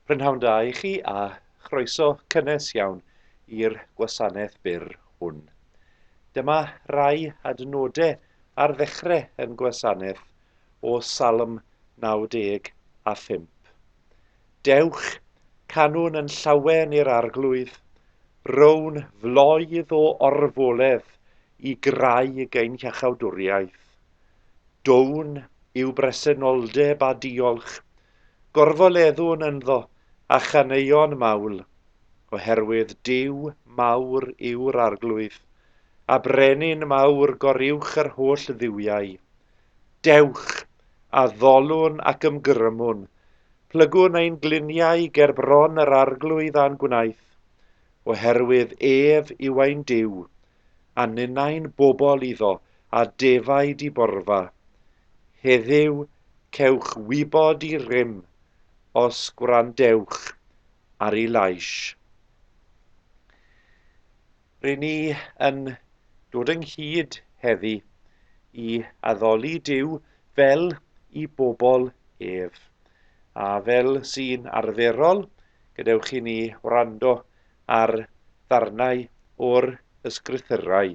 Prynhawn da i chi a chroeso cynnes iawn i'r gwasanaeth byr hwn. Dyma rai adnodau ar ddechrau yn gwasanaeth o Salm 95. Dewch, canwn yn llawen i'r Arglwydd, rown floedd o orfoledd i graig ein hiachawdwriaeth. Down i'w bresenoldeb a diolch, gorfoleddwn ynddo a chaneuon mawl, oherwydd Duw mawr yw'r Arglwydd, a Brenin mawr goruwch yr holl dduwiau. Dewch, addolwn ac ymgrymwn, plygwn ein gliniau ger bron yr Arglwydd a'n gwnaeth, oherwydd ef yw ein Duw, a ninnau'n bobl iddo a defaid i borfa. Heddiw cewch wybod i rym, os gwrandewch ar ei lais. Ry'n ni yn dod ynghyd heddi i addoli Duw fel i bobl ef, a fel sy'n arferol, gadewch i ni wrando ar ddarnau o'r Ysgrythyrau,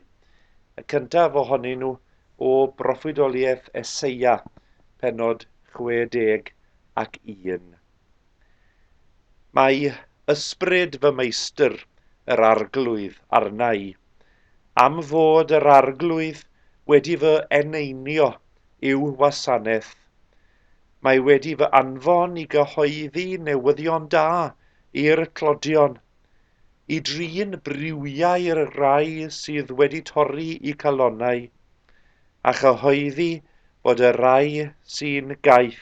y cyntaf ohonyn nhw o broffwydoliaeth Eseia, pennod 61. Mae ysbryd fy Meistr, yr Arglwydd, arna i, am fod yr Arglwydd wedi fy eneinio i'w wasanaeth. Mae wedi fy anfon i gyhoeddi newyddion da i'r tlodion, i drin briwiau'r rhai sydd wedi torri i calonnau, a chyhoeddi bod y rhai sy'n gaeth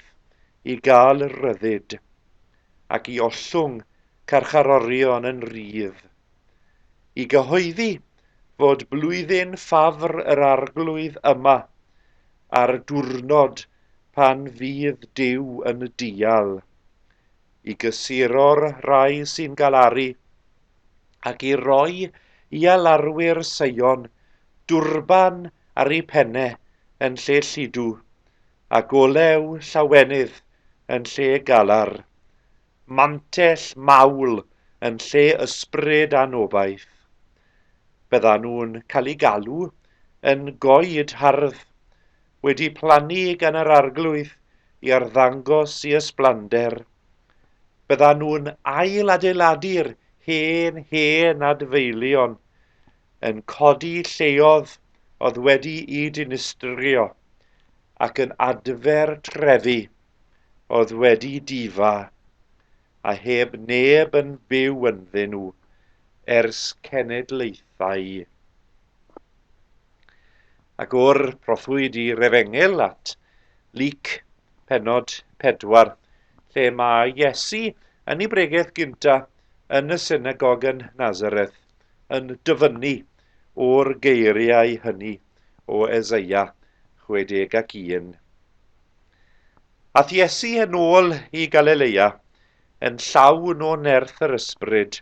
i gael rhyddid ac i ollwng carcharorion yn rhydd i gyhoeddi fod Blwyddyn Ffafr yr Arglwydd yma a'r diwrnod pan fydd Duw yn dial i gysuro'r rhai sy'n galaru ac i roi i alarwyr seion dwrban ar eu penne yn lle lludw, a golew llawenydd yn lle galar, mantell mawl yn lle ysbryd anobaith. Byddan nhw'n cael eu galw yn goed hardd, wedi plannu gan yr Arglwydd i arddangos i ysblander. Byddan nhw'n ail-adeiladu'r hen, hen adfeilion, yn codi lleodd oedd wedi'i dinistrio ac yn adfer trefi oedd wedi difa a heb neb yn byw ynddyn nhw ers cenedlaethau. Ac o'r prothwyd i'r efengyl at Luc pennod 4, lle mae Iesu yn ei bregeth gynta yn y synagog yn Nazareth yn dyfynnu o'r geiriau hynny o Eseia 61. Ath Iesu yn ôl i Galilea yn llawn o nerth yr ysbryd,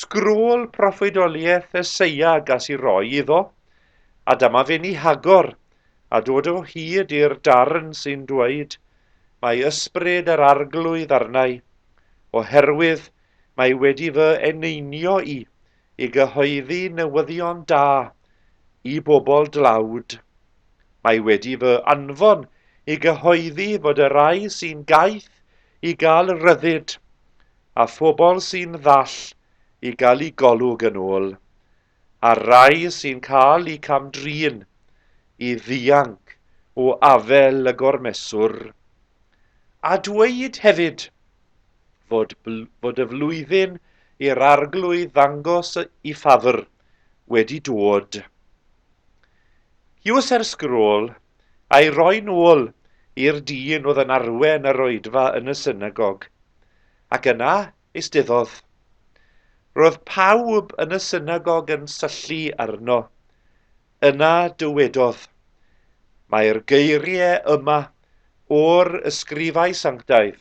Sgrôl proffwydoliaeth Eseia gas i roi iddo, a dyma fe'n ei hagor, a dod o hyd i'r darn sy'n dweud, Mae ysbryd yr Arglwydd arnau, oherwydd mae wedi fy eneinio i, i gyhoeddi newyddion da i bobl dlawd. Mae wedi fy anfon i gyhoeddi fod y rhai sy'n gaeth i gael rhyddid, a phobl sy'n ddall i gael eu golwg yn ôl, a'r rhai sy'n cael eu cam-drin i ddianc o afael y gormeswr, a dweud hefyd fod, fod y flwyddyn i'r Arglwydd ddangos y ffafr wedi dod. Huws er sgrôl, a'i roi'n ôl i'r dyn oedd yn arwen yr oedfa yn y synagog, ac yna eisteddodd. Roedd pawb yn y synagog yn syllu arno. Yna dywedodd, Mae'r geiriau yma o'r ysgrifau sanctaidd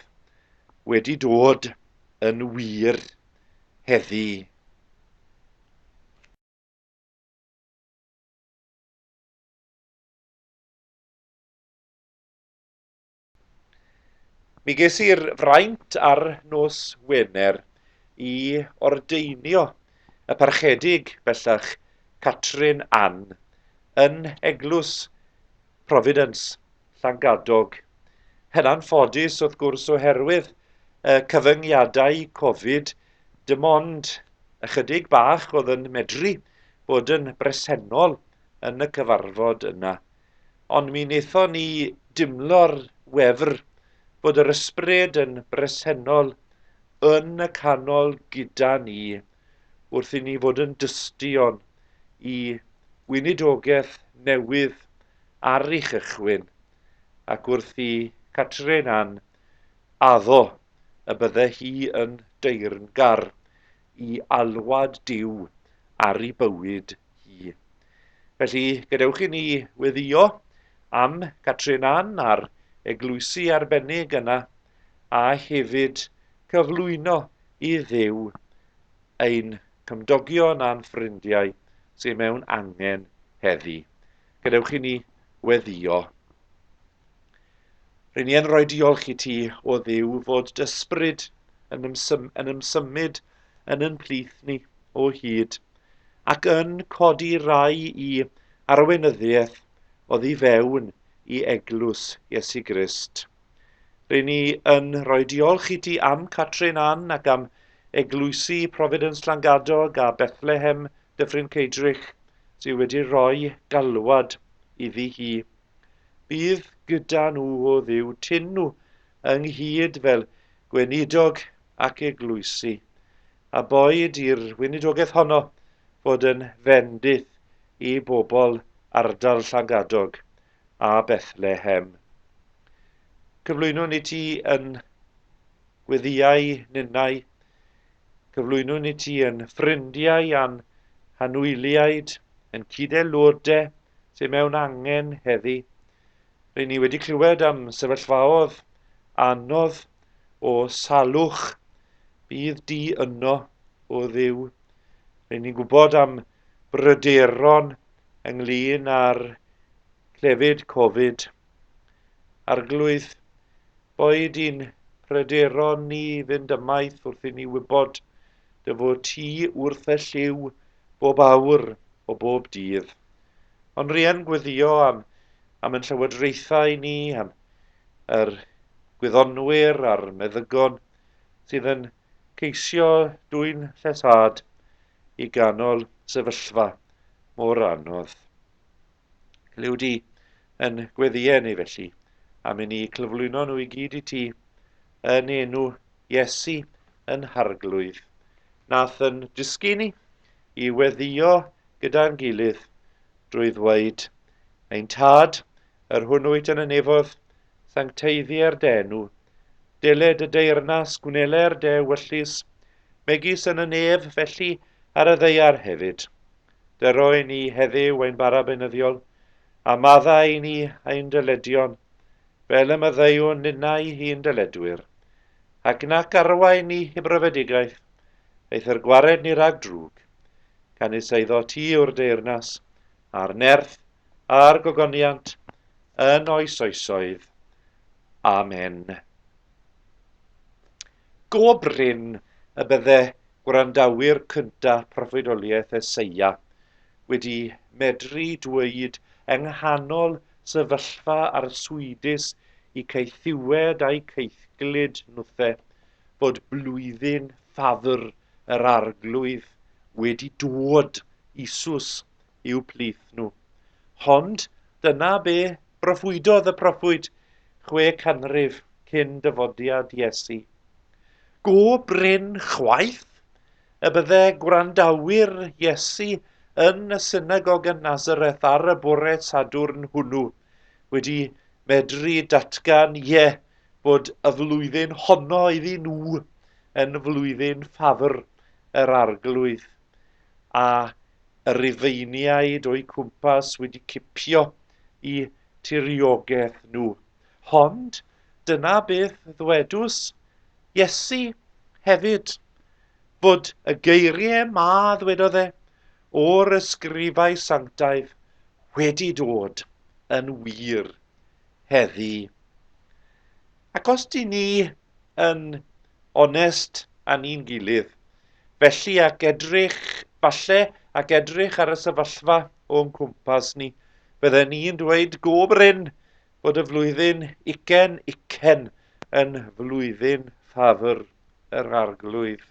wedi dod yn wir heddi. Mi ges i'r fraint ar nos Wener i ordeinio y parchedig bellach Catrin Ann yn Eglwys Providence, Llangadog. Hynna'n ffodus wrth gwrs oherwydd y cyfyngiadau Covid, dim ond ychydig bach oedd yn medru bod yn bresennol yn y cyfarfod yna, ond mi wnaethon ni dimlo'r wefr bod yr ysbryd yn bresennol yn y canol gyda ni wrth i ni fod yn dystion i weinidogaeth newydd ar ei chychwyn ac wrth i Catrin Ann addo y bydde hi yn deyrngar i alwad Duw ar ei bywyd hi. Felly, gadewch i ni weddio am Catrin Ann a'r eglwysi arbennig yna, a hefyd cyflwyno i Dduw ein cymdogion a'n ffrindiau sydd mewn angen heddi. Gadewch i ni weddio. R'yn ni yn rhoi diolch i ti, o ddiw, fod dysbryd yn, ymsym, yn ymsymud yn yn plith ni o hyd, ac yn codi rai i arweinyddiaeth oddi fewn i eglwys Iesu Grist. R'yn ni yn rhoi diolch i ti am Catrin Ann ac am eglwysi Providence Llangadog a Bethlehem Dyffryn Ceidrych sydd wedi rhoi galwad iddi hi. Bydd gyda nhw o Dduw tyn nhw ynghyd fel gweinidog ac eglwysi, a boed i'r weinidogaeth honno fod yn fendith i bobl ardal Llangadog a Bethlehem. Cyflwynwn i ti yn gweddiau ninnau, cyflwynwn i ti yn ffrindiau a'n hanwyliaid, yn cyd-aelodau sydd mewn angen heddi. Rŷn ni wedi clywed am sefyllfaodd anodd o salwch. Bydd di yno, o ddiw. Rŷn ni'n gwybod am bryderon ynglyn â'r clefyd Covid. Arglwydd, boed i'n pryderon ni fynd ymaith wrth i ni wybod Dy fod ti wrth y llyw bob awr o bob dydd. Ond ry'n gweddio am, am yn llywodraethau ni, am yr gwyddonwyr a'r meddygon sydd yn ceisio dwyn llesâd i ganol sefyllfa mor anodd. Clyw di yn gweddïau ni felly, a mi ni clyflwyno nhw i gyd i ti, yn enw Iesu yn harglwydd, nath yn dysgu ni i weddio gyda'n gilydd drwy ddweud, Ein Tad, yr hwn wyt yn y nefodd, sancteiddier denw, deled y deyrnas gwneler de wyllus, megis yn y nef felly ar y ddeiar hefyd. Dy roi ni heddyw ein bara beunyddiol, a madda i ni ein dyledion, fel y maddeuwn ninnau hi'n dyledwyr. Ac nac arwain ni i brofedigaeth, eithr gwared ni rhag drwg. Canys eiddo ti yw'r deyrnas, a'r nerth, a'r gogoniant, yn oes oesoedd. Amen. Go brin y bydde gwrandawyr cyntaf proffwydoliaeth Eseia wedi medru dweud yng nghanol sefyllfa arswydus i caethiwed a'u caethglyd nhwthe fod blwyddyn Ffafr yr Arglwydd wedi dod, Iesus i'w plith nhw. Hond dyna be broffwydodd y proffwyd chwe canrif cyn dyfodiad Iesu. Go brin chwaith y bydde gwrandawyr Iesu yn y synagog yn Nazareth ar y bore Sadwrn hwnnw wedi medru datgan ie bod y flwyddyn honno iddyn nhw yn flwyddyn ffafr yr arglwydd. a y Rufeiniaid o'u cwmpas wedi cipio i tiriogaeth nhw. Hond dyna beth ddwedws Iesu hefyd, fod y geirie ma ddwedodd e, o'r ysgrifau sanctaidd wedi dod yn wir heddi. Ac os dŷn ni yn onest â ni'n gilydd, felly, ac edrych, falle, ac edrych ar y sefyllfa o'n cwmpas ni, bydden ni'n dweud go brin bod y flwyddyn ucen ucen yn flwyddyn ffafr yr Arglwydd.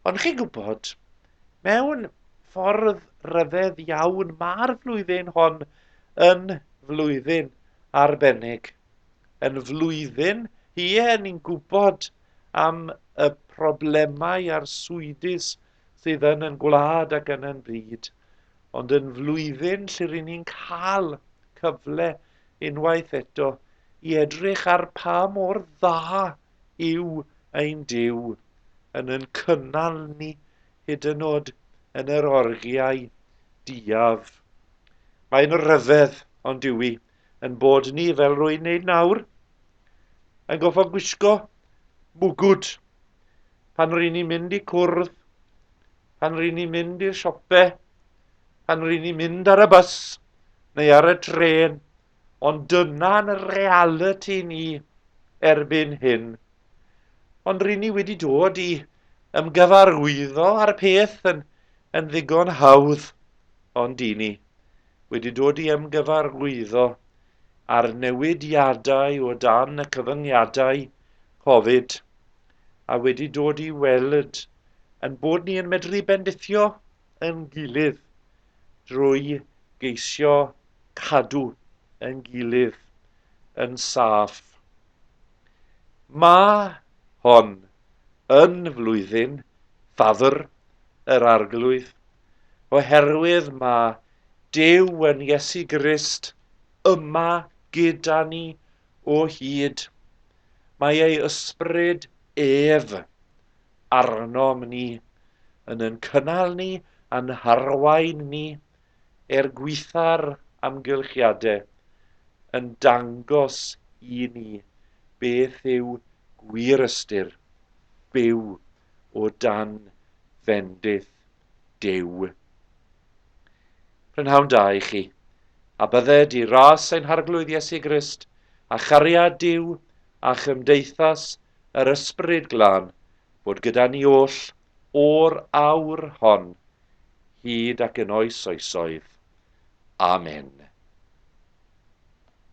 Ond chi'n gwybod, mewn ffordd rhyfedd iawn, mae'r flwyddyn hon yn flwyddyn arbennig. yn flwyddyn. Ie, ni'n gwybod am y problemau a'r swydus sydd yn yn gwlad ac yn yn byd, ond yn flwyddyn lle rydyn ni'n cael cyfle unwaith eto i edrych ar pa mor dda yw ein Duw yn yn cynnal ni hyd yn oed yn yr orgiau diaf. Mae'n ryfedd, ond yw i, Yn bod ni, fel rwy'n neud nawr, yn goffa gwisgo mwgwd pan ry'n ni'n mynd i cwrdd, pan ry'n ni'n mynd i'r siope, pan ry'n ni'n mynd ar y bus neu ar y tren, ond dyna'n realiti ni erbyn hyn. Ond ry'n ni wedi dod i ymgyfarwyddo â'r peth yn, yn ddigon hawdd, ond i ni. wedi dod i ymgyfarwyddo â'r newidiadau o dan y cyfyngiadau Covid a wedi dod i weld ein bod ni yn medru bendithio ein gilydd drwy geisio cadw ein gilydd yn saff. Mae hon yn flwyddyn Ffafr yr Arglwydd. oherwydd mae Duw yn Iesu Grist yma gyda ni o hyd. Mae ei ysbryd ef arnom ni, yn yn cynnal ni a'n harwain ni er gweitha'r amgylchiadau, yn dangos i ni beth yw gwir ystyr byw o dan fendith Duw. Prynhawn da i chi, a bydded i ras ein Harglwydd Iesu Grist, a chariad Duw, a chymdeithas yr Ysbryd Glân, fod gyda ni oll o'r awr hon, hyd ac yn oes oesoedd. Amen.